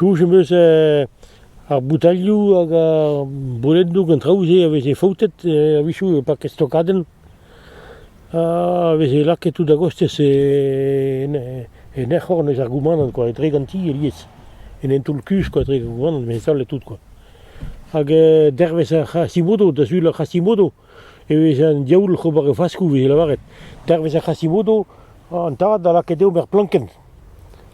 Soñj am eus ar boutalioù hag ar bolennoù gant traoù-se a veze faotet a-wechoù e park Stokadenn a veze lakaet tout a-gostez en ec'horn eus ar goumanant kwa, etre ganti alies, en hentoul-kuzh kwa, etre goumanant, mezh all et tout kwa. Hag dervezh ar C'hasimodo, da sul ar C'hasimodo. Evez an diaoul oc'h ober e faskoù, e vez lavaret. Dervez ar Hashimoto, an tad a laka deomp er plankenn.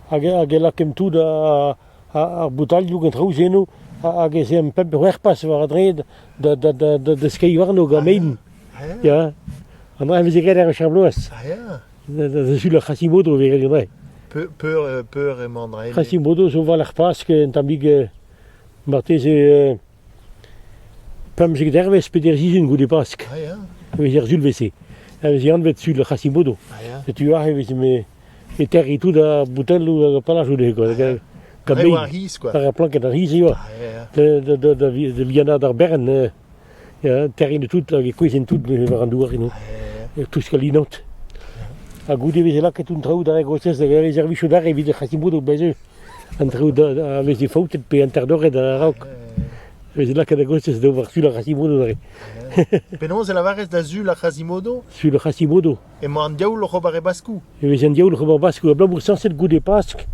Hag, hag e lakemp tout ar boutalioù gant traoù eno, hag ez emp pemp c'hwec'h-pas war a dreid da, da, da, da, da skeiñ warno gant mein. Ya, an dra veze graet ar wech ar bloaz. Da sul ar Hashimoto vez graet an dra. Hashimoto zo war ar Pask, un tammig marteze Pemzek dervezh peder sizhun goude Pask ah ya e vez er sulvezh-se e vez anvet sul Hashimoto ah ya setu aze e vez me é terriñ tout ar boutelloù hag ar palajoù dezhe quoi hag ar kabeilh war ar c'hiz quoi war ar planked ar c'hiz eo ah ya da da da vi- da vihanaat ar berenn eh ya terriñ tout hag e kouezhin tout war an douar eno eh touskal inout ha goude e veze lakaet an traoù d'ar a-gostez da reservizout arre evit Hashimoto beñ-se an traoù a veze faoutet pe interdoret a-raok. E veze lakaet a-gostez d'ober sul ar Hashimoto neuze. Penaos e lavarez da sul ar Hashimoto? Sul ar Hashimoto. Emañ an diaoul oc'h ober e baskoù. E vez an diaoul oc'h ober baskoù abalamour sañset goude Pask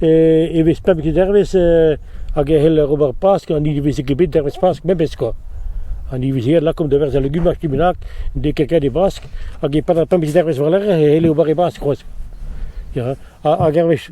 e, e vez pebet dervezh e, hag e c'hell ober Pask an ilivezeg ebet dervezh Pask memes kwa. An ilivezeg lakaomp da berzh al legumaj kimenak de kelkad e Bask hag e-pad ar pemzek dervezh war-lerc'h e c'helle ober e Bask c'hoazh. Ja, hag hervez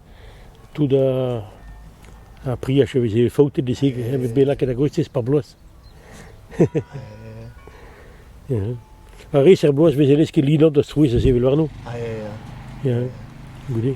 Tout ar priaj a veze faoutet e-se evit bet lakaet a-gostez par bloaz. Ar re-se er bloaz 'veze lesket linot da strouezh ha sevel warno. Ah ya ya. Ya, goude.